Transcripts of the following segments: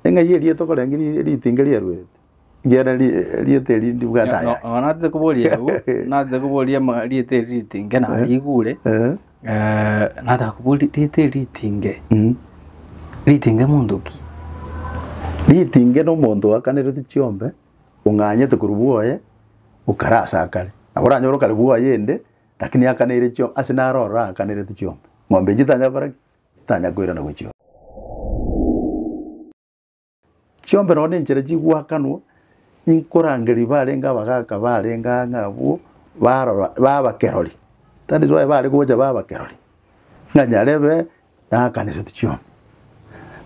Eng'ai eria tokorenge ri- ritinge riaruerete, ekiagera ri- rieta eri ndibwate aya. Nonya natete koboria agwo natete koboria ama- rieta eri ritinge narigure Eh, eh, nataka koboria rieta eri ritinge mm. ritinge monto ki Ritinge nomonto oakanerete chiombe, ong'anyete korwa bwoye, okare ase akare. Nabo oranyore okare bwoye ende, Lakini akaneire chiombe, ase naro ororo akanerete chiombe. Ng'ombe echi titanya gokora ki? Titanya koirana gochia. Chiombe nonye nenchera chigoakanwa, inkorangeria barenge abagaka barenge aa ng'a abwo, barora ba abakerori. That is why bare gocha ba abakerori, ng'a nyarebe nakanerete chiombe.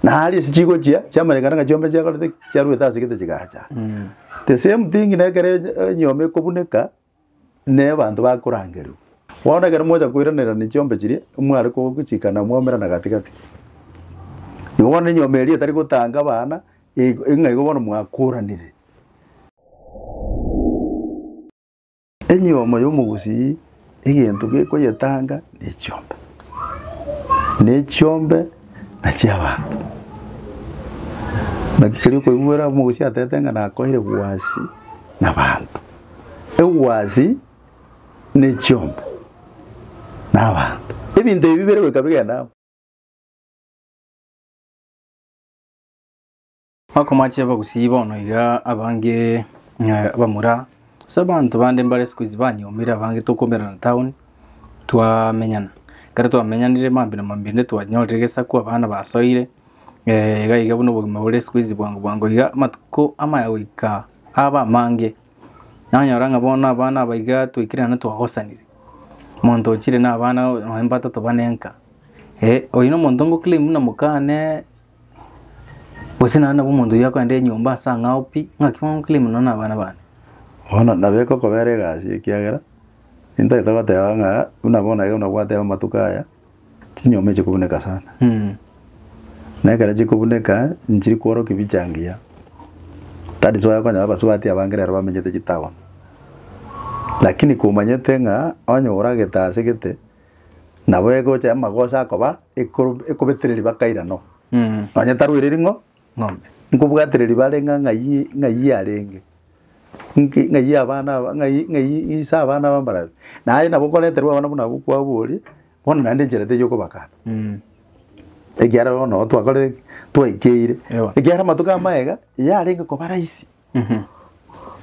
Na aria ase chigochia, chiamanyekana ng'a chiombe chiakorete ki? Chiarwete ase egete chigacha. The same thing nekere enyiomi ekobuneka, ne abanto bakorangerigwa. Bono ekero mocha koiranerania chiombe chiria, mware kogochikana mwaumerana gati-gati. Igo bono enyomba eria etari gotanga abana, ig- ng'a igo bono mwakoranire. Enyiomo y'omogusii egento gekoyetanga nechiombe, na echiombe na chi'abanto. Naki keria okoigwera omogusii atete ng'a nakoire gwasi nabanto. egwasi, na echiomba, na abanto. Ebinto ebi bire goika bigenda amo. Akomachia abagusii bono iga abange eh, bamura ase abanto bande mbare sikuizi banyomire abange tokomerana town twamenyana ekero twamenyanire mambia na mambia inde twanyorire gesaku abana basoire eh, iga iga buna obogima bore sikuizi bwango bwango iga amatuko amaya goika. Aaba amange, nanyora ng'a bono abana aba iga twaikire naende twagosanire. Omonto oo chire nabana nonya mbatato bane nka, eh, oyio nomonto ngo claim buna mokane, gose naende nabo omonto oyio akoenda enyomba ase ang'ao pi, ng'aki bono nclaim nonya na abana bane. Bono nabo egokobera egasi ekiagera, intagete goteba ng'a buna bono iga buna gwateba amatuko aya. Chinyama echi chikobuneka sana. Na ekero chikobuneka nchiri kworokia bicha ngiya. That is why okonyora abasubati abange rero bamenyete chitown. Lakini komanyete ng'a onye oragete ase gete nabo egocha amagoso akoba ekoro ekobetereri bakairana oo. Nonya tarwaire ring'o ng'ombe. Nkobwatereri bare ng'a ng'ai ng'ai arenge, nki ng'ai abana aba ng'ai ng'ai ise abana b'ambarabi. Naye nabo okoreterwa abana buna abwo kwao boria, bono naende enchera teiyo okobakana. Mm. Ekiagera bono nabo twakorire ki? Twaikeire. Ewa. Ekiagera amatuko amaega, yarenge koba rahisi, Mhm.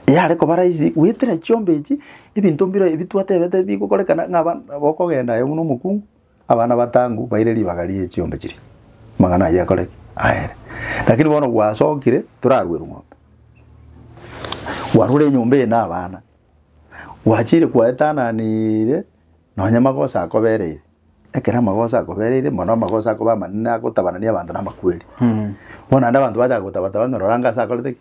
yare koba rahisi goetera chiombe echi, ebinto mbire ebi twatebete bigokorekana ng'a abana bokogenda aye buna omokungu, Abana batangu baire ribaga rie chiombe chiria, amang'ana ayio akore ki? Aere. Lakini bono gwasokire torarue rung'ombe, gwarure enyomba eye na abana, gwachire kwaetananire nonye magoso akobereire, ekero amagoso akobereire mono amagoso akoba amanene agotabanani abanto na amakweri. Bono naende abanto bacha gotabataba ng'a rora ng'a ase akorete ki?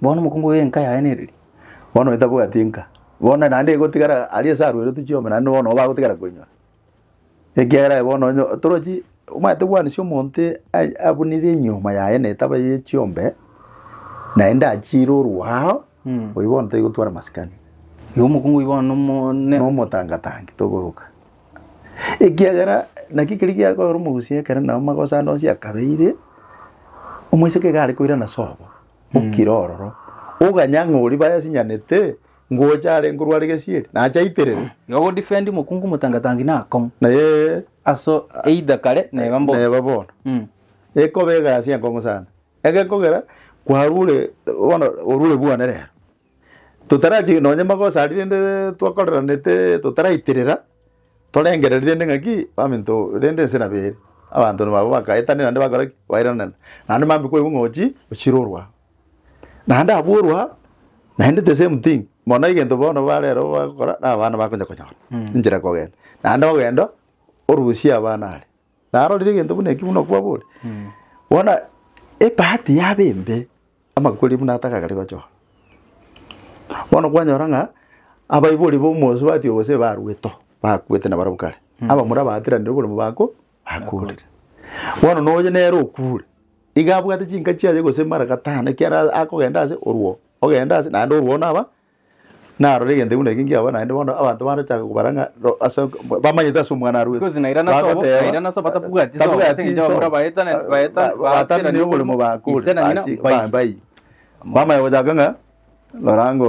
Bono omokungu oyo enka yaye nereri? Bono onye tabwati enka, bono naende egotigara aria ase aroirwe chiombe naende bono nigo bagotigara koinyora. Ekiagera aye bono onye torochi omanyete gwanisa omonto aye abunire enyiooma yaye na etaba ya echiombe, naende achiire orua ao, oyio bono taigotwara masikani. Igo omokungu oyio bono nomo ne. Nomotangatangi toboroka. Ekiagera naki keria giakoera omogusia ekero nao magoso ande onsi akabeire, omoiseke iga are koirana sobo, okire ororo, oganye ang'e oria bayasinyanete, ngocha arenge korwa are gesieri, nache aiterere. Igo godefendi mokungu motangatangi na akong'u. Naye Aso either kare neba mbono. neba bono Mm. ekoba egasi enkong'u sana egekogera kwarure bono orure bwane rero Totarachi nonye magoso aria rende twakoreranete totaraiterera, torengereria rende ng'aki baminto rende ense nabo ere. Abanto nabo abwo bakaetania naende bakora ki? Bairana. Naende mambia kwaigwa ng'a ochire ochire orwa aa. Naende abwo orwa aa, naende the same thing, mono egento bono bare ero bagokora, na abana bakonya konyora enchera ya kogenda. Naende ogenda orusie abana aria. narorire egento buna ekio buna okwabori bono ebahati yaba embe amaguko aria buna atagakare gochora bono kwanyora ng'a abaibori ba omosubati oyo gose barueto bakwete na barabwo kare abamura baatiranire oboremo bako bakorire bono na oye nere okure iga abwate chinka chiaye gose mara gatano ekiara akogenda ase oruo ogenda ase naende oruo naba Narore egento buna eke nkiabora naende bono abanto bande bachake kobara ng'a ro ase ok- bamanyete ase omwana arwete. Because naira nase obo- Bagoteba, naira nase obo batabwati isomo, tabwati ase engencho isomo. abamura baetane- Ba- baeta- ba- baterania baterania oboremo oboremo, bakure ise na ng'ina ase mbaise. ba- mbai. Bamanya gochaka ng'a norango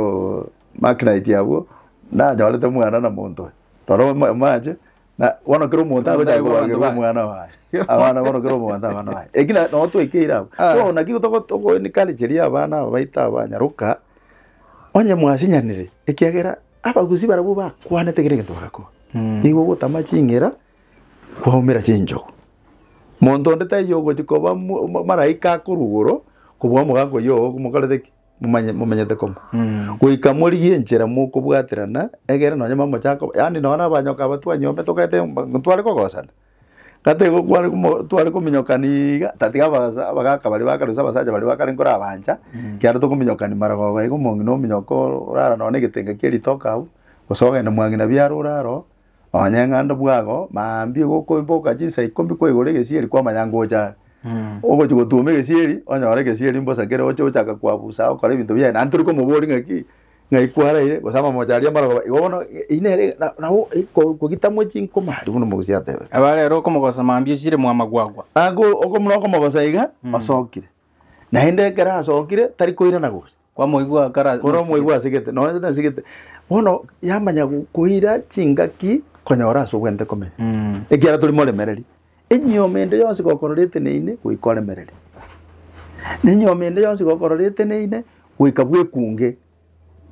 makinite abwo nanyorete omwana na monto oyo. Rora omo- omoache Na bono kera omonto Omonto agocha aye bwa abanto kobarerwa baye. omwana waye abana bono kera omonto abana baye eki na- nabo twekeire abwo Ah. so naki togo- togo encourageria abana aba baito aba nyaroka onye mwasinyanire ekiagera abagusii barabwo bakwanete kera egento bagakora Mm. nigo ogotama chingera kwaumera chinchogu monto onde taiyo ogochi koba mo- mo- maraika akorwa igoro kobua omogaaka oyoo omokorete ki. momanye- momenyete kong'u goika morigie enchera mokobwaterana egere nonye mamochaka yaani nonye na abanyoka aba twanyiombete tokaete mba- intwe tware kogosana kata igo kware komo- tware kominyokani iga tatiga abas- abagaka baria ba kare gose abasacha baria ba kare nkore abancha ekiagera tokominyokani maragoba iga omong'ina ominyoke orara nonye na egetenge kia ritoke abwo gose ogende mwang'ina biara orare oo Abanyeng'ando bw'ago mambie gokoiboka chinsa ikomi kwa igoro egesieri kw'amayango oche are. Ogochia gotuoma egesieri, onyore egesieri mbosa kere oche ochake koabusa agokora ebinto biaye. Naende tori komobori ng'aki, ng'ai kwaraire, gose amamocho aria amarogoba. Igo bono eyio nere na nabo ko kogitamwe chinkoma aria buna omogusi atebete. Abare ere okomogosa mambia ochire mwamagwagwa. Nago okomuna okomogosa iga, osokire. Naende ekero asokire, tari koirana gose. Kwamoigwa akara Bono nochigete. omoigwa asegete, nonya tari asegete, bono yamanya go- koira chingaki konyora ase obwenerete komenya. Mm. Ekiagera tori moremereri. Enyiomi ende yonsi gokororete neine, goika oremereri. Na enyiomi ende yonsi gokororete neine, goika bwekunge,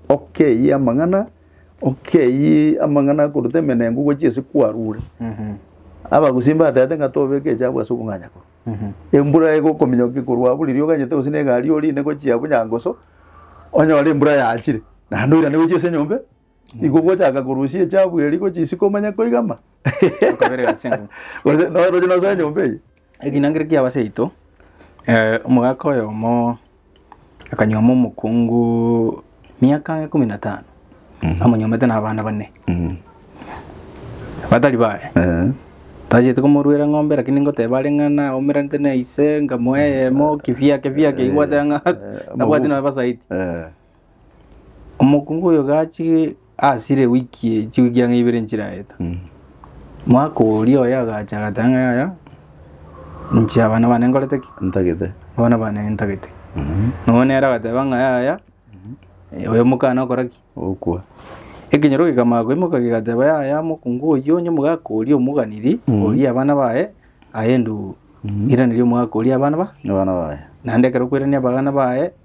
okeyie amang'ana, okeyie amang'ana akoruta emenengo gochia ase kwarure. Mhm. Abagusii mbatebete ng'a tobeke echabu ase obong'anyakorwa. embura egokominyoka ekorwa buri riogo ganyete gose negari orinde gochia bunyangoso onyore embura yachire naende oirane gochia ase enyombe igo ogochaka korusia echafu eria gochia isiko omanye koigama Okabere ase eng'uma. Gose noroche nosoe enyomba eye. Ekinangera kiabo ase yaito, eh, omogaka oyomo. Akanyuoma omokungu miaka ikomi na tano amonyuomete na abana bane batari baye Eh. tachete komoruera ng'ombe lakini ngoteba are ng'a naumeranete na ise ngamoa eyemo kifiake fiake igwate ng'a nabwate na abasaiti Eh. Omokungu oyo gachire asire wiki chiwiki ang'e ibere nchirareta, mwaka oria oye agacha agateba ng'a yaya, inche abana bane nkorete ki? ntagete abana bane ntagete. Nonya nere agateba ng'a yaya, oyo omokana okora ki? okwa. Ekenyoro kekamanya koimoka kegateba yaya omokungu oyio onye omogaka oria omoganiri Mhm. orie abana baye aye ndu iraneria omogaka oria abana ba abana baye. naende ekero okwerania abagana baye.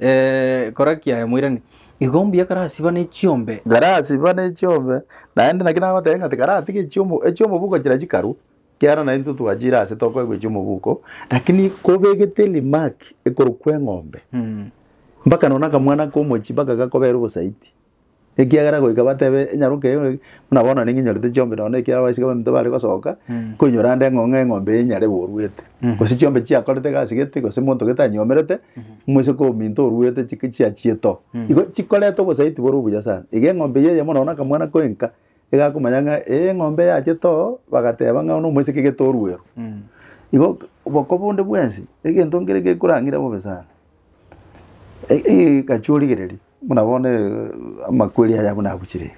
Eh, kora kiaye moirani. Igo mbuya karasiba ne chiombe. Karasiba ne chiombe, naende naki nagoteba ng'a tikaratige chiomo echiomobuko chira chikarwa, kiaro na intwe twachire ase tokoegwa chiomobuko, lakini kobegete remark ekorokwa eng'ombe, Mm. mpaka nonye na akamwana komochi mpaka gakobera obosaiti. Ekiagera goika batebe enyaroka eye ng'a buna bono ning'inyorete chiombe nonya na ekero abaiseke baminto bare gosoka, Mm. nkoinyora ande ng'o ng'a eng'ombe eye nyare boruete, Mhm. gose chiombe chiakorete egasi gete, gose monto gete anyomerete, moiseke ominto oruete chik- chiachiete oo. Mhm. Igo chikoreta obosaiti bore obuya sana. Iga eng'ombe eye eyemo nonya na akamwana koenka, iga akomanya ng'a eh eng'ombe yachete oo, bagateba ng'a buna omoiseke gete oruerwe. Mm. Igo boko bonde bwensi, egento nkere gekorang'ire bobe sana. Egachia origereria buna bono amakweri aya buna agochire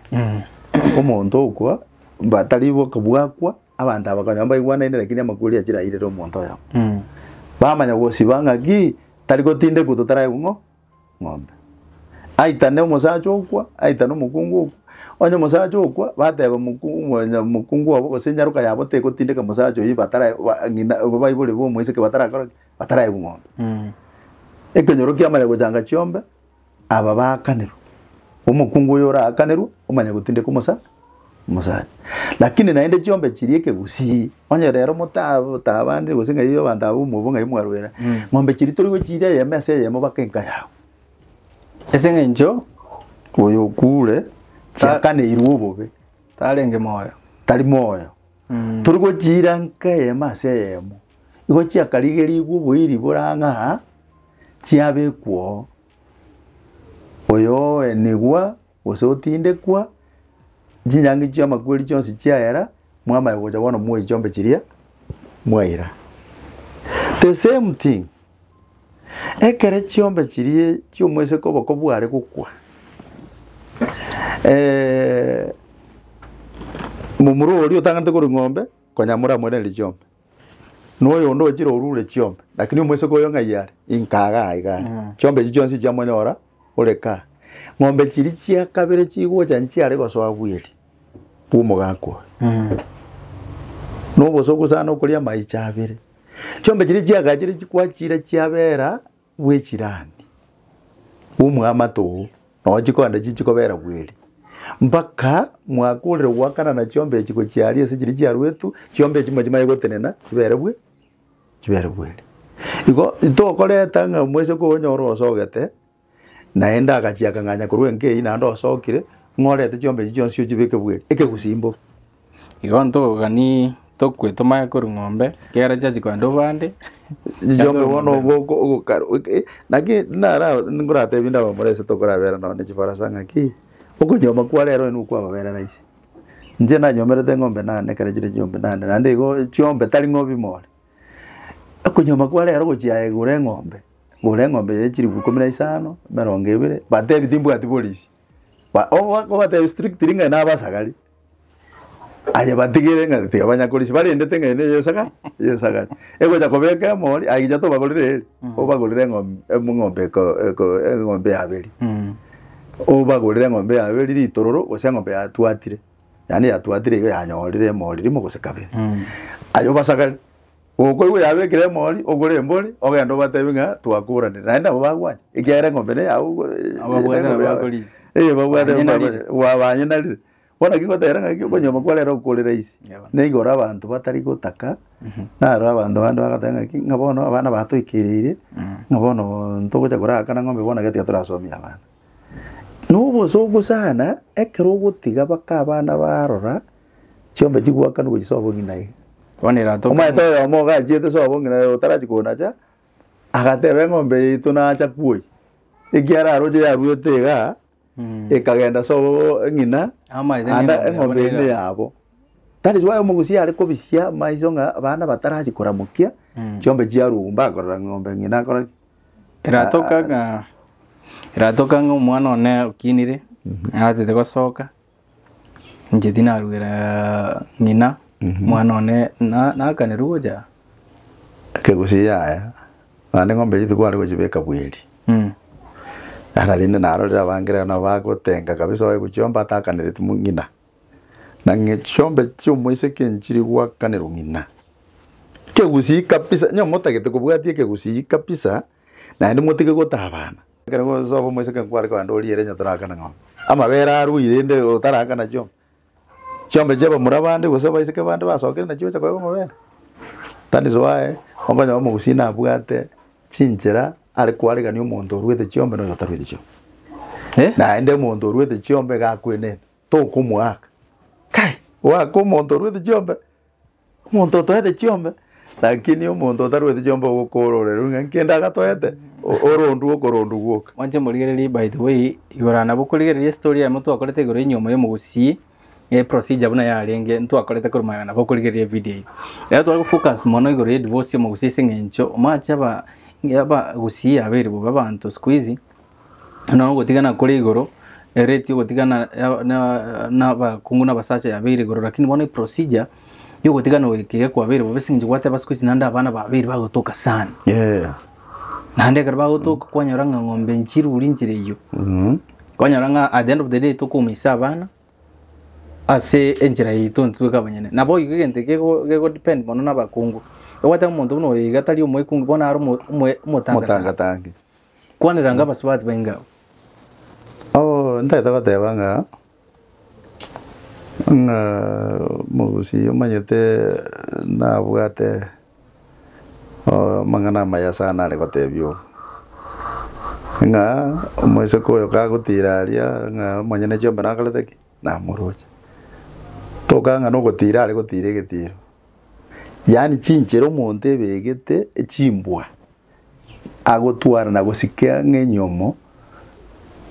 omonto okwa mba tari boka bwakwa abanto aba konya mbaigwanaine lakini amakweri achire airire omonto oyomo bamanya gosiba ng'aki tari gotindekwa totaraigwa ng'o ng'ombe aitane omosacha okwa aitane omokungu okwa onye omosacha okwa bateba moku mwenye mokungu obo gose enyaroka yabo tegotindeka mosacha oyio batara ba ng'ina baibori bomoiseke batarakora ki bataraegwa ng'ombe ekenyoro kiamanya gochanga chiombe aba baakanerwe omokungu oyo oraakanerwe omanya gotindeka omosa omosacha lakini naende chiombe chiria ekegusii onye rero motatabandire gose ng'ai abanto aba omobo ng'ai mwarwera ng'ombe chiria tori gochiira eyemo ase eyemo baka enka yago ase eng'encho oyo okure chiakaneirwe obobe tarenge moyo tari moyo. Tori gochiira nka eyemo ase eyemo, igo chiakarigerigwe oboiri bore ang'e aa, chiabekwa oo, oyoenigwa gose otindekwa, chinyangi chi'amakweri chionsi chiayera, mwamanya gocha bono moe chombe chiria mwaira. The same thing. Ekere chiombe chiria chi'omoiseke oboko bware gokwa, momura oria otanganete korwa eng'ombe konya moramoiranerie chiombe, noyo onde ochire orure chiombe, lakini omoiseke oyo ng'ai are? Inka iga aiga are. Chiombe echi chionsi chiamonyora ore kaa. Ng'ombe chiria chia kabere chigocha nchiare gosoa bweri bw'omogaka oyo. Nobosa ogosana okoria amaiche abere. Chiombe chiria chiagachire chikwachira chiabera bw'echirani bw'omwamato oo, nao chikoenda chichia kobera bweri, mpaka mwaka orire goakanana chiombe echi gochia aria ase chiria chiaruetwe, chiombe echi machia maye gotenena chibere bwe chibere bweri. Igo, tokoreta ng'a moise koonye orosogete. Naende agachia akang'anya korwa enkei, naende osokire, ng'a orete chiombe echi chionsi ochibeke bwe ekegusimo. Igo ntogani tokwe tomanye korwa ng'ombe, ekiagera chiachi kogenda obande. Chiombe bono ogo oko- ogokara oke- naki nara nkoratebie nde abamura ase tokorabera nonye ne chibarasa ng'aki, okonyuoma kwa rero onye nokwamabera rahisi. Inche nanyomerete eng'ombe nane ekero chire chiombe nane, naende igo chiombe tari ng'obi more, Okonyuoma kwa rero gochia aye gora eng'ombe, gora eng'ombe ya chilifu ikomi na isano, emerongo ebere, batebi timbwati polisi. Ba- oba- obatebi strictly ng'ai na abasagari, aye batigere ng'a tiga banya korisia, barendete ng'ai na eyo esagari, eyo esagari. Egocha kobeka emori, aye gicha tobagorere eri, obagorere eng'om- em- eng'ombe eko- eko- eng'ombe ya beri. Obagorere eng'ombe ya beri ritororo, gose eng'ombe yatwatire. yaani yatwatire iga yanyorire emori rimo gose kabere aye obasakare gokoigwa yabekire emori ogore embori ogende obatebie ng'a twakoranire naende nabo bagwancha ekiagera eng'ombe neyao ogwe Ababwate nabo bakorisia. Eh, babwate Banyenarire. gwa- banyenarire bono ki ngotebera ng'a ki okonyioma kwarero gokore rahisi Yabo. nigo ore abanto batari gotaka naro abanto bande bagoteba ng'a ki ng'a bono abana batoikereire ng'a bono ntogocha koraakana ng'ombe bono iga tiga torasomia abana Nobosoku sana, ekero ogotiga baka abana barora chiombe chigwakanu gochia sobo ng'ina eye. Bono erato Omonyato oyomo ogachiete sobo ng'ina eye otarachi konacha, agateba eng'ombe yaito nacha kwoi, ekiara aroche yaruete iga, ekagenda sobo ng'ina, Amaete ande n'eng'ombe yabo eng'ombe eye neiga. neyabo. That is why omogusia are kobisia maiso ng'a abana batarachi koramokia, chiombe chiarugwa mbakorora ng'a ng'ombe ng'ina akora ki. Eratoka ng'a eratoka ng'a omwana one okinire atete gosoka inche tinaruera ng'ina omwana one na nakanerwa gocha Kegusii yaya naende ng'ombe eria tikware gochibeka bweri mm. Ara rende narorire abange rero nabo bagotenga kabisa oye gochiomba atakanereti mo ng'ina Na ng'echombe chi'omoiseke nchiri goakanerwa ng'ina. Kegusii kabisa, onye motagete kobwatia ekegusii kabisa, naende motige gotabana. Ekero ngosoba omoiseke nkware kogenda oriere onye toraakana ng'ombe. Amabere arue rende otaraakana chiombe. Chiombe chia abamura bande gose abaiseke bande basokire nachio gocha koeba amabere. That is why okonyora omogusii nabwate chinchera are koaregania omonto oruete chiombe na oyo otarueti chiombe. Naende omonto oruete chiombe iga akwenete. tokomoaka. Kai! Goaka omonto orwete chiombe? Omonto otoete chiombe? Lakini omonto otarwete chiombe ogokoororeru ng'a nkende agatoete, o- orondu okorondu gwoka. Mwanche morigererie by the way igoro nabo korigereria estory eyemo twakorete igoro enyiomo ya omogusii eh, procedure buna yarenge ntwakorete korwa magega nabo okorigereria evideo eyio. Ekero tware gofocus mono igoro ya edivosi ya omogusii ase eng'encho omanyete aba abagusii abeire bobe abanto siku hizi nonya ogotigana kore igoro, erate ogotigana nabakungu na abasacha yabeire igoro lakini bono eprosijia ya ogotigana oyo ekero kwabeire bobe aseng'encho gwateba siku hizi naende abana babeire bagotoka sana. Naende ekero bagotoka kwanyora ng'a eng'ombe nchirure nchire eyio, kwanyora ng'a at the end of the day tokoumisa abana ase enchera yaito intwe tweka abanyene. Nabo igo egento ekio geko depend mono na abakungu, egwateba omonto buna oyo iga tari omokungu bono are omotangatange. Kwanera nga abasubati bainge abwo. Obo ntagete goteba ng'a ng'a omogusii omanyete nabwate amang'ana amaya sana are gotebia oo. Ng'a omoiseke oyo kagotira aria ng'a omonyene chiombe nakorete ki? Namoroche. Tokagera ng'a nogotira are gotira egetiro. Yaani chinchera omonto ebegete echimbwa. agotwara na gosika ng'enyomo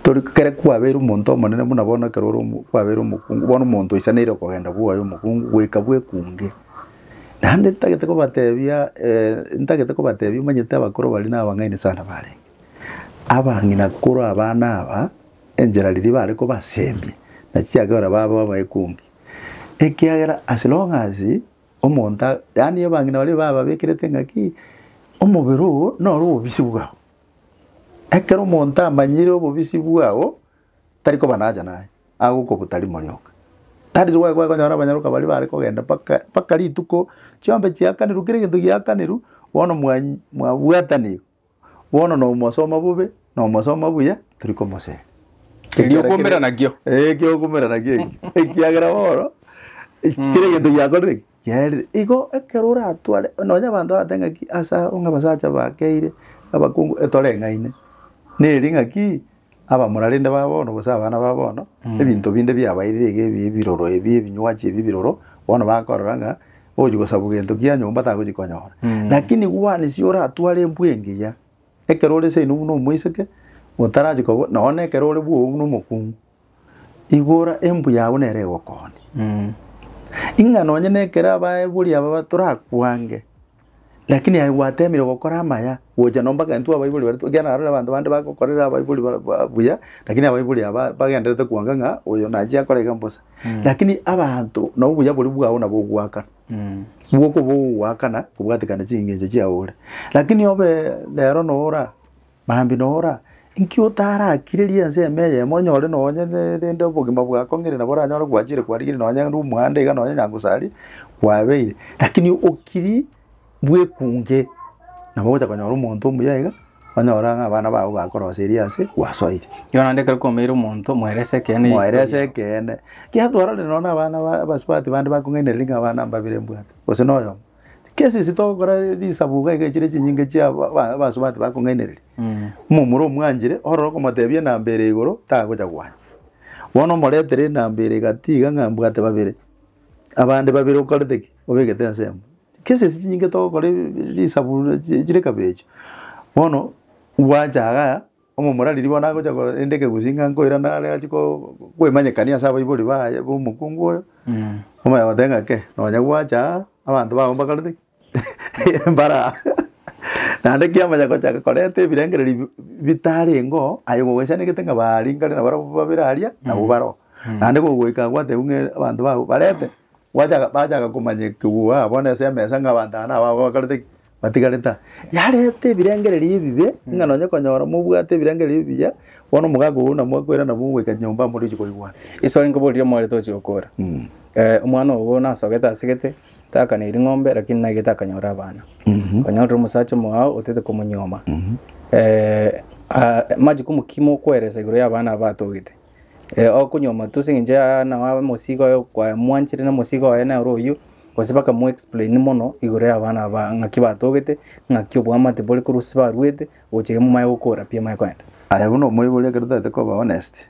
tori kere kwabeire omonto omonene buna bono ekero ore omo kwabeire omokungu bono omonto oisaneire okogenda bwoye omokungu goika bwekunge. Naende ntagete kobatebia ntagete kobatebia omanyete abakoro baria na abang'aini sana barenge. Abang'ina korwa abana aba enchera riria bare kobasemia nachiakera babe abaekungi ekiagera as long as. Omonto a, yaani abang'ina baria bababekerete engaki, omobere oo noro obobisi bwao. Ekero omonto amanyire obobisi bwao, tari koba nahaja naye, agokobuta rimo rionka. That is why kwakonyora abanyaroka baria bare kogenda mpaka mpaka rituko chiombe chiakanirwe kera egento giakanerwe, bono mwa mwabwatanire. Bono nomosoma bobe, nomosoma buya, tori komoseri. Erio okomera nakio. Eh, ekio okomera nakio ekio. Ekiagera bono, eki- kera egento giakorire ki, giaerire. Igo ekero oratware, nonya abanto bagoteba ng'aki ase abo ng'a abasacha bakeire, abakungu, etoreng'aine. Neri ng'aki. abamorarende ba bono gose abana ba bono, ebinto binde biabairire iga ebi ebiroro ebi, ebinywachi ebi ebiroro, bono bakorora ng'a ogochi gosabwa gento kia nyomba tagochi konyora. Lakini gwanisi oratware embwa engiya, ekero ore seino buna omoiseke, otarachi kobo nonye na ekero ore bwogo buna omokungu, igora embwa yago nere egokonya. Ing'a nonye na ekero abaibori aba ba torakwange. Lakini aye gwateemire gokora amaya, gocha nomba gento abaibori baria, ekiagera naro abanto bande bagokorera abaibori ba- ba- buya, lakini abaibori aba bagendererete kwanka ng'a oyo nachia akore iga mbosa. Lakini abanto na obuya boria bwao nabo ogoakana, bwoka oba ogoakana kobwatekana chingencho chiao ore. Lakini obe rero nora. Mambia nora, inki otararigereria ense ime eyemo onyore nonye rende obogima bwakong'ire nabo oranyore gwachire kwarigeria nonye rende omohando iga nonye Nyankosari kwabeire. Rakini okirie bwekunge nabo ogocha konyora omonto omuya iga, onyore ng'a abana babo bakoroseria ase gwasoire. Igo naende ekero kwaomeire omonto moere ase ekeene. Moere ase ekeene. Ekiagera twarorire nonye na abana ba abasubati bande bakong'ainereria ng'a abana mbabere mbwate, gose na oyomo. Cases togokora risabu iga iga chire chinyinge chia aba- aba- abasubati bakong'ainereria momura omwanchire ororo okomotebia enamba ere igoro tagocha gwancha bono omoretere enamba ere egati iga ng'a mbwate babere abande babere okorete ki obegete ensemo cases chinyinge togokora risabu chire kabere echio bono gwacha igaa. Omomura riria bono agocha ko rende ekegusii ng'a nkoirana are achie ko kwemanyekania ase abaibori baye b'omokungu oyo, omanya goteba ng'a kei, nonya gwacha aa, abanto bago mbakorete ki? mbare aa. Naende ki amanya gochaka korenta ebirengererio bi- bitarengeo, aye gogwesanegete ng'a baringare nabarabwo babere aria, nabwo bare oo. Naende gogoika agwo atebiwe ng'a e- abanto bago barente, gwachaka bachaka komanyekigwa bono ase emesa ng'a abanto aba nabao bakorete ki. matigarete aa, yareta ebirengererio ebibe, ng'a nonye konyora mobwate ebirengererio ebiya, bono omogaka ogo namwakwera nabo mogoika nyomba amo riroche korigwana. Iso inkoboria omware tochia gokora. Eh, omwana ogo nasogete ase egete, takaneirie ng'ombe lakini naigete akanyora abana. Konyorire omosacha omogao otete komonyuoma. Eh, ah, majukumu ki mokoeresa igoro y'abana aba atogete? okonywa omotwe ase eng'encho ya nao abe omosigo oye kwamwanchete na omosigo oye nere oyio, gose baka mu explain mono igoro y'abana aba ng'aki batogete, ng'aki obwamate bore korwa ase barwete, gocha iga momanye gokora pi amanye kogenda. Aye buna omoibori ekero totagete koba honest,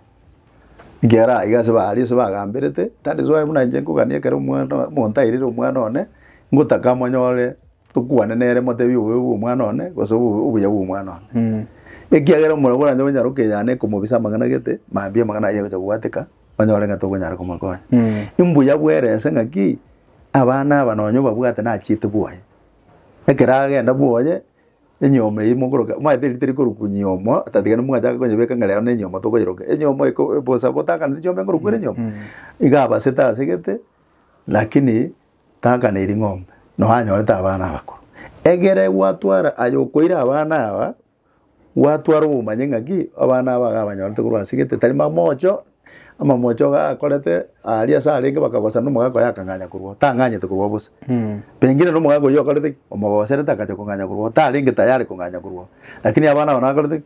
ekiagera aiga ase ba aria ase bagamberete, that is why buna inche nkogania ekero omwana omonto airire omwana one, ngotaka monyore tokwane nere motebi obobe bw'omwana one gose obo- obuya bw'omwana one Mm. ekiagera omorero boranche gonyara okeyana ekomobisa amang'ana gete mambia amang'ana ayio agocha kobwateka onyore ng'a tokonyara komokonya Mm. imbuya bwerese ng'aki abana aba nonye obabwate nachiete bwoye ekero agenda bwoye enyiomo eyio mokoroka omanyete erita rikorokwa nyiomo otatiga mwachaka konyebeka ng'a rero nenyiomo tokoyeroka enyiomo eko ebosa botakaneti chiombe nkorokwa ere nyiomo iga abasete asegete lakini Tanka ne ring'ombe, nonya anyorete abana abakoro. Egere gwatwara aye okoira abana aba, gwatwara omanye ng'aki abana aba iga abanyorete korwa ase egete tari mamocho, amamocho iga akorete aria ase arenge bakagosana na omogaka oye akang'anya korwa oo, tang'anyete korwa oo bosa. Pengine na omogaka oyio okorete ki? Omogoserete akacha kong'anya korwa oo, tarenge tayari kong'anya korwa oo. Lakini abana aba nabakorete ki?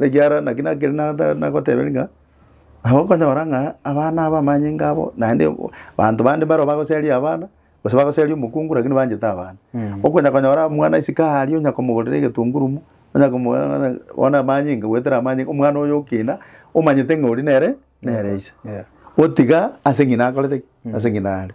Ekiagera naki nakere nata nagoteberia ng'a, nabo okonyora ng'a abana aba amanyinga abo naende o- o- banto bande mbaro bagoseria abana, gose bagoseria omokungu rakini banchete abana. Okonya konyora omwana isiko aria onya komogorera egetungurumu, onya komo bono amanyinga goetera amanyinga, omwana oyo okina, omanyete ng'a oria nere nere ise. Gotiga ase ng'ina akorete ki? Ase ng'ina are.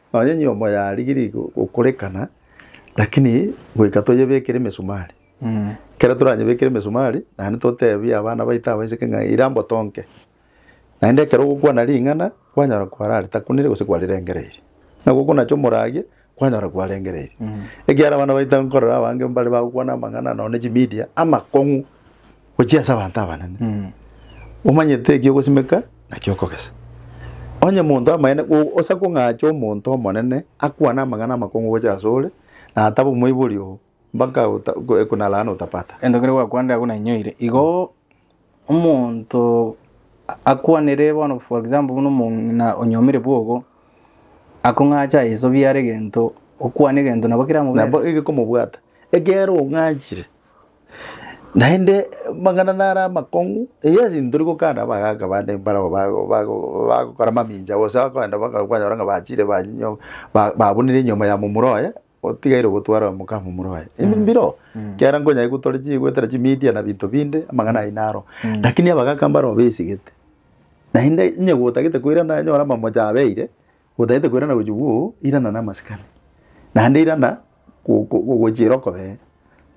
Nonya enyiomo yarigirie go- gokorekana, lakini goika toyebekere emesumari. Ekero toranyebekere emesumari, naende totebie abana baito abaiseke ng'a ira mbotonke. Naende ekero ogokwana ring'ana, kwanyora kwarare takunire gose kwarirengereiri. Ng'a gokonacha omoragie, kwanyora kwarengereiri. Ekiagera abana baito nkorora abange mbare bagokwana amang'ana nonye ne chimedia, amakong'u. gochia ase abanto abanene, omanyete ekio ogosimeka na kio okogesa. Onye monto amaene, o- osa kong'acha omonto omonene akwane amang'ana amakong'u gochia ase ore, na ataba omoibori oo, mpaka ota- ko- ekuna laana utapata. Ento kere gwakwana ndirabu nainyoire igo omonto a- akwanere bono for example buna omong'ina onyomire bwogo akong'acha ayesobie are egento okwane egento nabo kera amobere. Nabo egekomobwata, ekero ong'achire. Naende mang'ana nare amakong'u, eyio ase intwe tari gokana abagaaka bande mbarabwo bago bago bagokora mamincha gose bakoenda baka kwanyora ng'a bachire banyinyo ba babunire enyomba ya momura oye, otigaire ogotwara omoka wa momura oye. Ebi mbiroo, ekiagera nkonya aye gotwara chi goetera chimedia na binto binde, amang'ana ayio naro. Lakini abagaaka mbarabwo besigete, naende onye gotagete koirana anyore amamocha abeire, Gotagete koirana gochia gwo irana na amasikani. Naende irana gochiera okobee.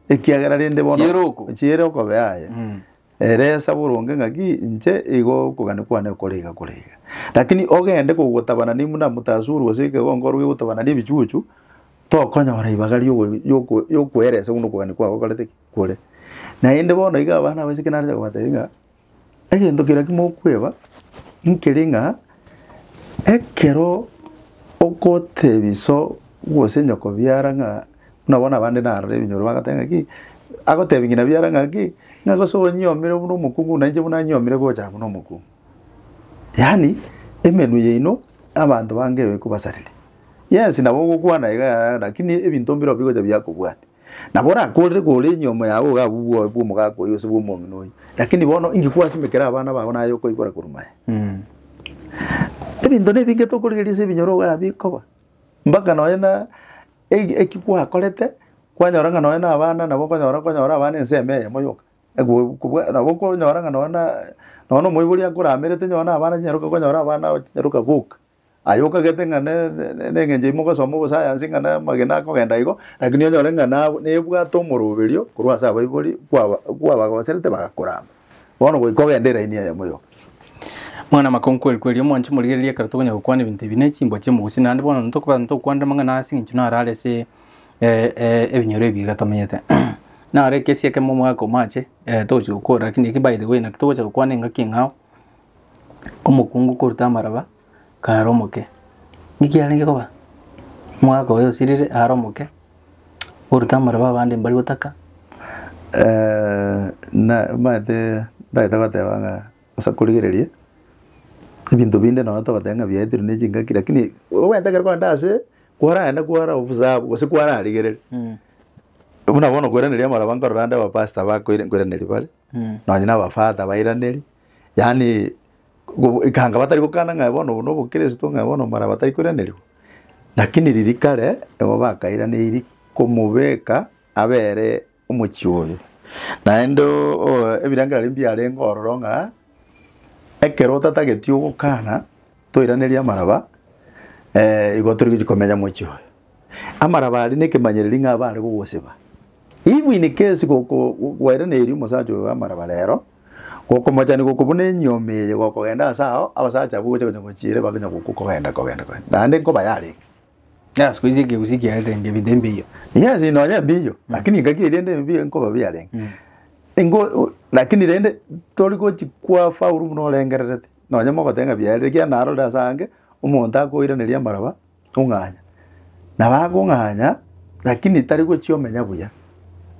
Ekiagera rende bono. Chiera oko. Chiera okobe aye. Mm. Ere esa boronge ng'aki inche igo okogani kwane okore iga kore iga. Lakini ogende kogotabana ne muna mutasuru gose ekegongo oroge gotabana ne ebichuchu tokonyora ibaga riogo yoko yokoeresa buna okogani kwabo okorete ki kore. Naende bono iga abana abaiseke nare kobatebia ng'a egento keria kimokweba nkere ng'a ekero ogotebi iso gose nyoko biara ng'a buna bono abande narora ebinyoro bagateba ng'a ki agotebi ng'ina biara ng'a ki ng'a gose onyiomire buna omokungu buna inche buna nyiomire gocha buna omokungu. Yaani emenwa yaino abanto bange ekobasarire. Yes nabo ogokwana igaa lakini ebinto mbirobio bigocha biakobwatia. Nabo orakorere kore enyomo yao ogabe obwoba bw'omogaka oyio gose bw'omong'ina oyio. Lakini bono inki kwasimekera abana bao naye okoigwera korwa maye? Ebinto nebinge tokorigereria ase ebinyoro ogabe bikoba, mpaka nonye na e- eki gwakorete, kwanyora ng'a nonye na abana nabo okonyora okonyora abana ensemo eyemo yoka. Ekobua kobua nabo okonyora ng'a nonye na nonye na omoibori akoramerete nonye na abana chinyaroka okonyora abana abo chinyaroka boka. Aye okagete ng'a nengencho ime ogasoma obosayansi ng'a namagena akogenda igo, lakini onyore ng'a nebwate omoroberio korwa ase abaibori kwabagoserete bagakorama. Bono goika ogende eraini eyemo yoka. Mwana make onkweri kweri, omwanche morigererie ekero tokonya gokwana ebinto ebi ne chimbwa chia omogusi, naende bono ntokoba ntokwanera amang'ana ase engencho naro are ase ebinyoro ebi iga tomenyete. Naro ekesie ekemo omwaka omache togochi gokora, lakini eki by the way naki togocha gokwana engaki eng'ao. omokungu korwa amaraba kaare omoke. Niki arenge koba? Omwaka oyo osirire aare omoke korwa amaraba abande mbari gotaka na omanyete ntagete goteba ng'a osa korigereria ebinto binde nonye togoteba ng'a biaetirwe ne chingaki lakini omanyete ekero kogenda ase kwarenda kwara obusabu gose kwararigereri buna bono koiraneria amaraba nkorora ande abapastor bakoira nkoiraneria bare nonye na abafata bairaneri. yaani gobo ekanga batari gokana ng'a bono obo nobokristo ng'a bono mara batari koiranerigwa, lakini riria kare nigo bakairaneiri komobeka abere omochie oyo. Naende oo ebirengererio ebi mbiarenge ororo ng'a, ekero otatageti ogokana toiraneria amaraba, igo torigochia komenya mochie oye. Amaraba aria nekemanyereri ng'a abare gogosiba, even in case goko gwairaneiri omosacha oyo amaraba rero. Gokomochani gokwo buna enyioma eye gokogenda ase ao, abasacha abwo gocha konyagochiire babe nyagokwa kogenda kogenda kogenda. Naende nkoba yarenge. Ng'a siku hizi ekegusii ekiarenge ebinto ebiya. Yes nonya mbiya, lakini engaki eria rende mbiya nkoba biyarenge. Engo o lakini rende tori gochi kwafaulu buna orengererete. Nonya mogoteba ng'a biarenge ekiagera narorire ase ange, omonto akoiraneria amaraba. ong'anya, na bagong'anya, lakini tari gochia omenya buya,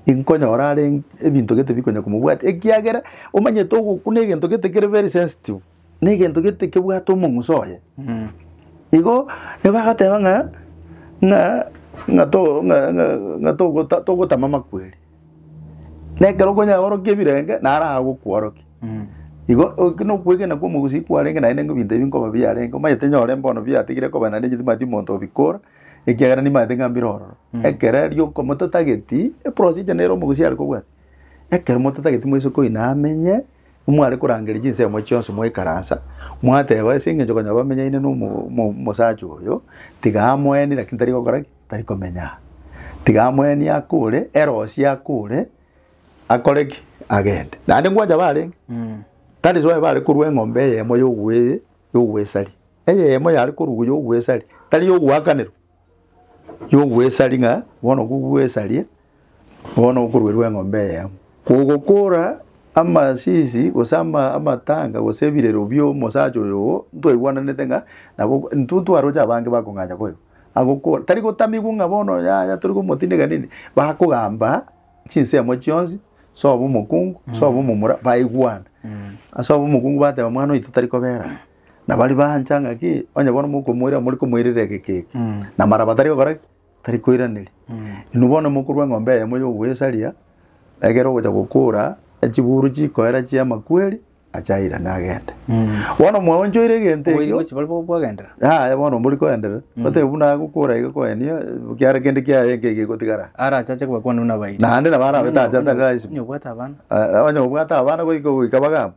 inkonyora are ebinto gete bikonya komobwatia, ekiagera omanyete ogokuna egento gete kere very sensitive, na egento gete kebwate omong'uso oye. Igo nibagateba ng'a ng'a ng'a to ng'a ng'a ng'a togota togotama amakweri. na ekero okonyaorokia ebirenge, naro agokworokia. Igo eke na okwegena kwa omogusii kwarenge naende ng'a ebinto ebi nkoba biarenge, omanyete nyore mbono biatigire koba naende egetimati omonto obikora, ekiagera nimanyete ng'a mbire ororo. Ekero erio oko mototageti, eprosije nere omogusii are kobwati, ekero mototageti moise koina amenye, mware korangeria chinsemo echio chionsi mwaikaransa, mwateba ase eng'encho konya bamenyaine na omo- mo- omosacha oyo, tiga amoeni lakini tari gokora ki? tari komenya aa. Tiga amweni ake ore, ere osie ake ore, akore ki? Agende. Naende ngwancha barenge, Mm. that is why bare korua eng'ombe eyemo y'ogwe- y'ogwesari. Eyemo yare korugwa y'ogwesari, tari y'ogwakanero, y'ogwesari ng'a bono kogwesaria, Bono okoruerwa eng'ombe eye, kogokoora amasisi gose ama- amatanga gose ebirero bi'omosacha oyo oo, ntwaigwananete ng'a nabo intwe ntwaroche abange bakong'acha koigwa. Agokora, tari gotamigwa ng'a bono yaya tori gomotindeka nini, bakogamba chinsemo chionsi, sobo omokungu, sobo omomura, baigwana. Ase obo omokungu bateba mwana oito tari kobera aa. Nabo aria baancha ng'a ki, onye bono mokomoira, morikomoirera egeke eke. Namaraba tari gokora ki? tari koiraneria. Inwe bono mokorua eng'ombe eyemo ya ogoesaria, ekero ogocha gokora, echiguru chikoera chia amakweri, acha airane agende. Bono mwaonchoire egento Oboiri ekio, bwechi bari bo- bwagendera. yaya bono mbori koenderera, otebe buna agokora iga koenia, kiare kende kiaye nki egegotigara. Arachache kobakwanwa nabairi. Naende nabo arabe tachete, Onye- onye- taraisima. onye obwate abana. Eh, onye obwate abana goika goika bagambe.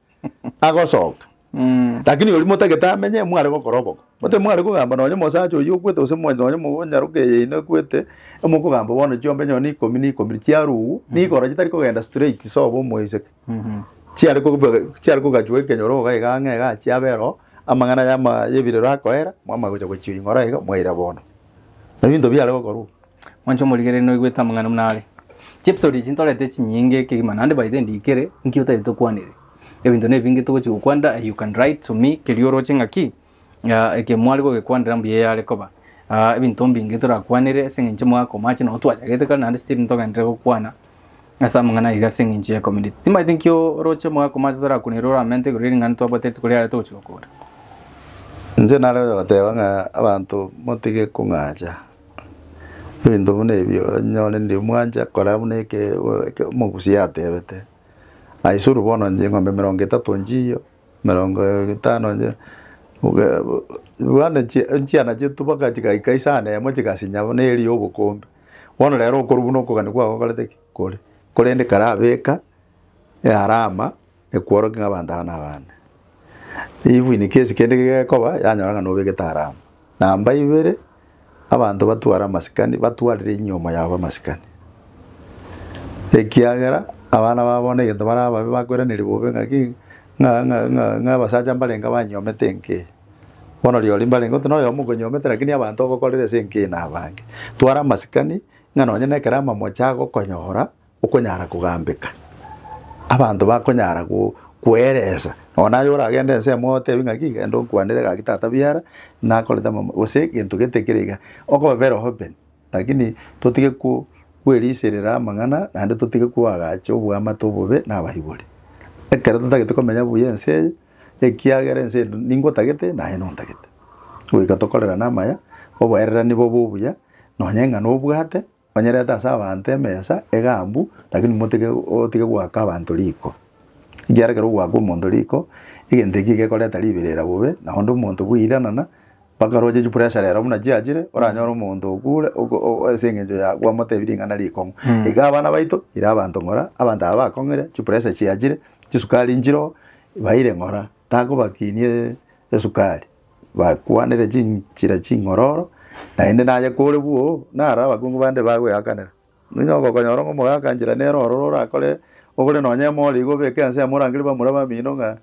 agosoka, lakini oria motagete amenye, mware gokora oboko. Gotari mware kogamba nonye omosacha oyio okwete gose mwa- nonye omonyaroka eye yaino ekwete, emokogamba bono chiombe nonye na ikomi na ikomi chiarugwa, nigo ororo chitari kogenda straight sobo omoiseke. Chiare kobe- chiare kogachwa ekenyoro iga iga ang'e iga achia abe ororo, amang'ana yama- yebirero akoera, mwamanya gocha gochia ing'ora iga, mwaira bono. Ebinto biare gokorwa. Mwanche omorigereria noigwete amang'ana buna are. Chiepisode echi ntorete chinyinge kegima naende by the end ikere nki otagete okwanere. Ebinto nebinge togochi gokwanera you can write to me kerio oroche ng'a ki ah, eke mware gogekwanera mbuya eyare koba. Ah, ebinto mbinge torakwanere ase eng'encho omwaka omache nabo twachagete kare naende still ntogenderere gokwana ase amang'ana aiga ase eng'encho ya community. Timaete nki oroche omwaka omache torakwane ere oramente igoro ering'ana twabwate rituko riare togochi gokora. Inche nare goteba ng'a abanto motige kong'acha Ebinto buna ebio onyore ndiri mwancha kora buna eke eke omogusi yatebete, aisuru bono inche eng'ombe emerongo etato nchiiyio, emerongo etano nchio obe bo bwanu chi chiana chiaito mpaka chigaika isano emo chigasinya buna eri ya obokombe, bono rero okorwa buna okogania kwabo okorete ki kore korende kare abeka earama. Ekworokia ng'a abanto aba nabane. Ribu inwe kesi kende gekoba yanyora ng'a nobegete harama. Namba ibere, abanto batware amasikani batwarire inyuoma yabo amasikani. Ekiagera abana babo bono egento bare ababe bakweraniri bobe ng'aki ng'a ng'a ng'a ng'a abasacha mbarenge abanyuomete enka eye. Bono riori mbarenge oti noyomo okonyuomete rakini abanto ogokorera ase enka eye nabange. Twara amasikani ng'a nonye nekero amamocho agokonyora. Okonyara kogambeka, abanto bakonyara kweresa nonya naye oragende ense emo otebie ng'aki genda onkwanere gaki tata biara nakorete amam gose gento gete kere iga okoba very open lakini totige ko kweriserera amang'ana naende totige koagacha oboamate obobe na abaibori. Ekero totagete komenya buya ense eye ekiagera ense eye ningotagete naye nontagete, goika tokorerane amaya, oboererania bobe obuya nonya eng'ana obwate. Onyerete ase abanto emesa egaambu, lakini motike otige goaka abanto riko. Ekiagera ekero ogoaka omonto riko, egento ekio gekoreta riberera bobe, na onde omonto bwairanana, mpaka roche chipressure rero buna chiachire, oranyore omonto okure oko o ase eng'encho ya kwamotebia ring'ana rikong'u. Iga abana baito, ira abanto ng'ora, abanto aba bakong'ire, chipressure chiachire, chisukari nchire oo, baire ng'ora, takobakinie esukari. bakwanere chinchera ching'ororo, naende naye kore bwoo, naro abakungu bande bagweakanera. Onye ogokonyora ng'a omogaaka nchera nere ororo orakore ogore nonye emori iga obeke ense yamo orangere bamura bamino ng'a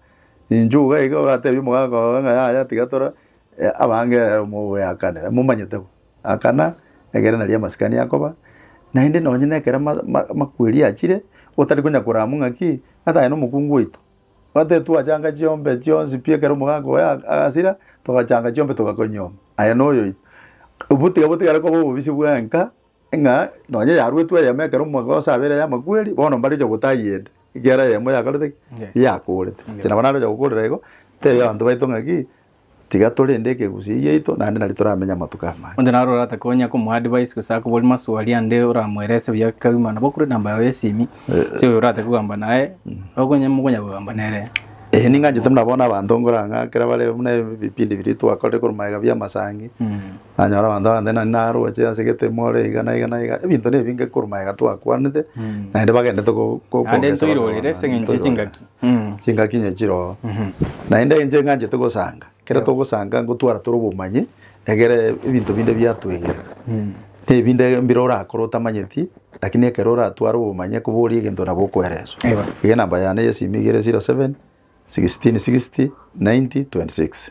inche iga iga oratebie omogaaka oye ng'a yaya tiga tore abange ere omogweakanera momanyete bo. Akana egere naria amasikani akoba, naende nonye nekere ma- ma- makweri achire, otari konya korama ng'aki, ng'ata aye nomokungu oito. Twatete twachanga chiombe chionsi pi ekero omogaaka oye agasira, togachanga chiombe togakonyioma. Aye noyo oito. Obo tiga botigare koba obobisi bwenka, ng'a nonye yaruetwe eyemo ekero omogoosa abeire y'amakweri, bono mbare ocha gotayia ende, ekiagera eyemo yakorete ki? Yakorete. Inche nabo naroche gokoorera igo, tebia abanto baito ng'a ki? Tiga torende ekegusia egiaito, naende nari toramenya amatuko amaya. Onde naro orate konya komoadvise gose akoboria maswali ande oramoerese buya kegima nabo okure enamba yaye y'esimi ase oyo orate kogamba naye okonye mokonya kogamba nere. Eh ning'anchete buna bono abanto nkora ng'a ekero bare buna ebipindi biria twakorire korwa magega bia amasangi, nanyora abanto abande nari naroche ase egetemo ore iga na iga na iga, ebinto na ebinge korwa magega twakwanete, naende bagenderete go- go- Naende ntoirorere ase eng'encho ye chingaki. chingaki inye chiroo. Naende inche ng'anchete gosanga, ekero togosanga ngotwara tore obomanyi, egere ebinto binde biatwegera. Ebinde mbire orakore otamanyeti, lakini ekero oratware obomanyi ekoboria egento nabo okoereswa. Eba. Iga enamba yane ya esimi igere zero seven, sixteen sixty, ninety, twenty six.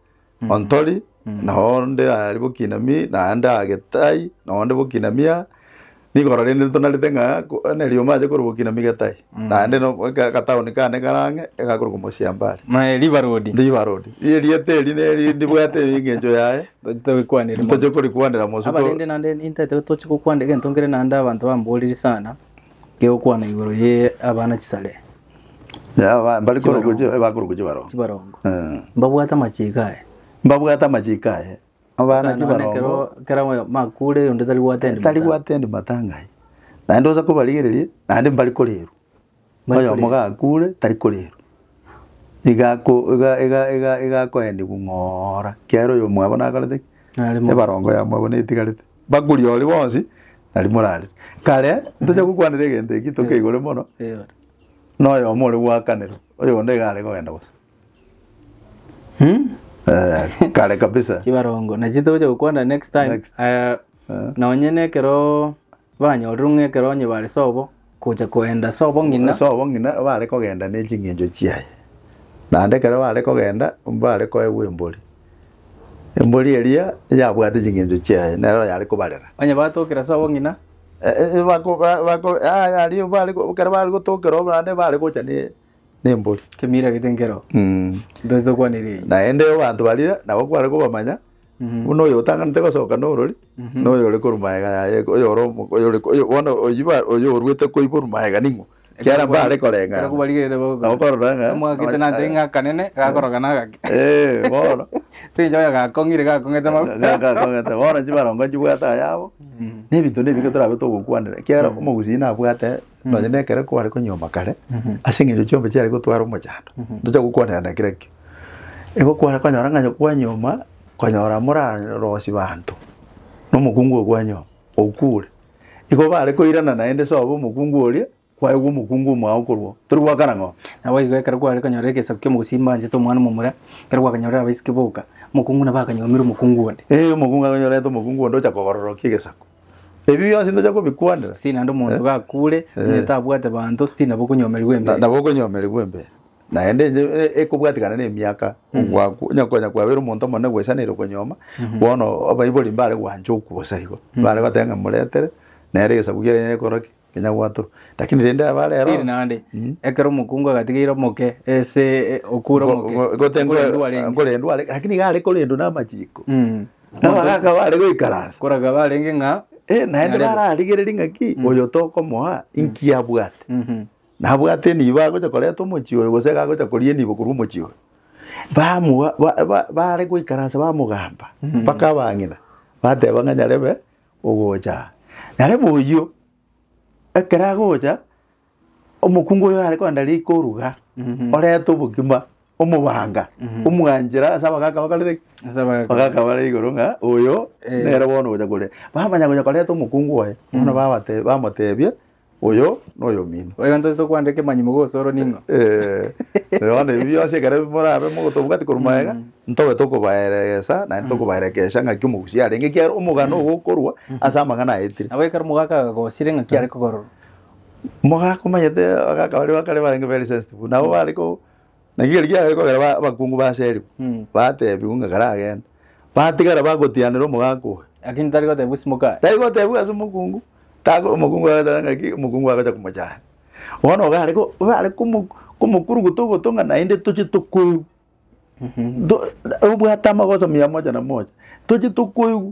Ontori, na onde aria bw'Okinami, na ande aa Getai, na onde bw'Okinami aa. Nigo rori erinde tonarete ng'a ko- na rioma ache korwa bw'Okinami Getai, naende no- aka- agataoni kane kare ang'e, egakorokwa Mosiambari. Naye riba rodi. Riba rodi. Ri- Erieta eri neri ndibwate engencho yaye, Tochete goikwanera mono. toche korikwanera mosu ko- Abarende naende nintaete toche gokwana egento nkere naende abanto bamboriri sana, kegokwana igoro ye abana chisare. Yaba mbari Chibarongo. korogoche bakorogoche barongo. chibarongo Eh. mbabwate amachiiko aye Mbabwate amachiiko aye. Abana None chibarongo. kero- kera oyo makure oyonde tari gwatenda Tari gwatenda matanga aye. Naende osa kobarigereria naende mbari korerwa. Mbari Oyomo korerwa. gakure tari korerwa. Iga ako iga iga iga iga akoendigwa ng'oora. Kiagera oyo mwabo nakorete ki? Nare mo- Ebarongo ya mwabo netigarete. Bakuri oria bonsi nari morarire. Kare ntoche gokwanera egento eki tokeigore mono noyomo ore gwakanerwa oyonde iga are kogenda bosa. Eh, kare kabisa. chibarongo nachi togocha gokwana next time Next. Eh, Eh. nonye nekero banyorire ng'a ekero onye bare sobo Gocha koenda ase obong'ina. Ase obong'ina bare kogenda ne ching'encho chiaye. Naende ekero bare kogenda mbare koegwa embori. Embori eria yabwate ching'encho chiaye nero yare kobarera. Onye batokire ase obong'ina. Ekero bare gotokera naende bare gocha ne. nembori. Kemira gete nkero Mm. ntose kwanera eyio. Naende abanto baria nabo kware kobamanya, Mhm. buna oyo otanganete gosoka norori, Mhm. na oyo ore korwa magega yaye, oyo ore omo- oyo ore- oyo- bono oyio ba- oyio oruete koiborwa magega ning'o? Ekiagera Ekero mbare kwari- koreng'ana. ekero kwarigereire bagokora. Nabo korora ng'a- Amwagete nante Eh. ng'akanene, gakoroka nagake. Eh, bono. Secha oyo gakong'ire gakong'ete mabu. Ga- ga- kong'ete. Bono chibarongo nchibwate ayabo, Mhm. na ebinto na ebi ekero torabe togokwanera, ekiagera omogusii nabwate. Nonya na ekero kware konyuoma kare, ase eng'encho chiombe chiare gotwara omochando, ntocha gokwanerana kera ekio. Igo kware konyora ng'a onye kwanyuoma, konyora morarosie banto na omokungu oyo kwanyuoma, okure. Igo bare koirana naende sobo omokungu oria, kwaegwa omokungu omwao okorwa oo, tori goakana ng'a oo. Naboigo ekero kware konyora egesaku kia omogusii banchete omwana omomura, ekero gwakanyorire abaiseke boka, omokungu nabo akanyuomera omokungu onde. Eeh, omokungu akanyorete omokungu onde ocha kogororokia egesaku. Ebi bionsi ntocha kobikwanera. Sitiri naende omonto gakure, onye tabwate banto, sitiri nabo okonyomerigwa Na- embere. nabo okonyomerigwa embere naende enye e- ekobwatikana nemiaka ogwaku onye konya kwabeire omonto omonene gwesaneire okonyoma bono abaibori mbare gwancha okwosa igo bare goteba ng'a moretere nere egesaku kiaye gekora ki Kenya gwato. Lakini rende aba rero. Siri naende. Mm. Ekero omokungu agatigeire omoke ese e, okure omoke. Go- go- gotengwa- Okure endware enye. gokora endware, lakini iga are korendwa n'amachiko. Mm. Nabo agakaba are goikaransa. Koraga barenge ng'a Eh, naende Narebe. bararigereria ng'aki oyo tokomoa inki abwate. Mhm. Nabwate enibo agocha koreta omochie oyo gose agocha koria enibo korwa omochie oyo. Bamoa ba- ba- bare goikaransa bamogamba mpaka abang'ina bateba ng'a nyarebe Ogocha. Narebo oyio, ekero agocha, omokungu oyo are kogenda riko oruga, orete obogima, omobanga, omwanchera ase abagaka bakorire ki? Ase abagaka. Abagaka bare igoro ng'a oyo Eh. nere bono ogocha kore. Bamanya gocha koreta omokungu oye, bono babatebia, bamotebia, Oyo noyomino. Oyo ntosete okwandeka emanyi mogoso oro ning'o? Ee, bono ebi bionsi ekero morabe mogotobwati korwa magega, ntobe tokobaeregesa naende tokobaerekesha ng'aki omogusia arenge, ekiagera omogano ogo okorwa ase amang'ana aetire. Nabo ekero omogaka agagosire ng'aki are kogororwa. Omogaka omanyete abagaka baria ba kare barenge very sensitive, nabo bare ko Naki ekero giabeire kogera ba- abakungu baserigwe, bateebigwa ng'a karagende, batigara bagotianera omogaka oye. Lakini tari gotebigwa simoka aye. Tari gotebigwa ase omokungu, tago omokungu agateba ng'aki omokungu agocha komochaya. Bono iga are ko- iga are komo- komokuruguta ogoto ng'a naende toche tokoigwa. To- obwate amagoso mia mocha na mocha, toche tokoigwa.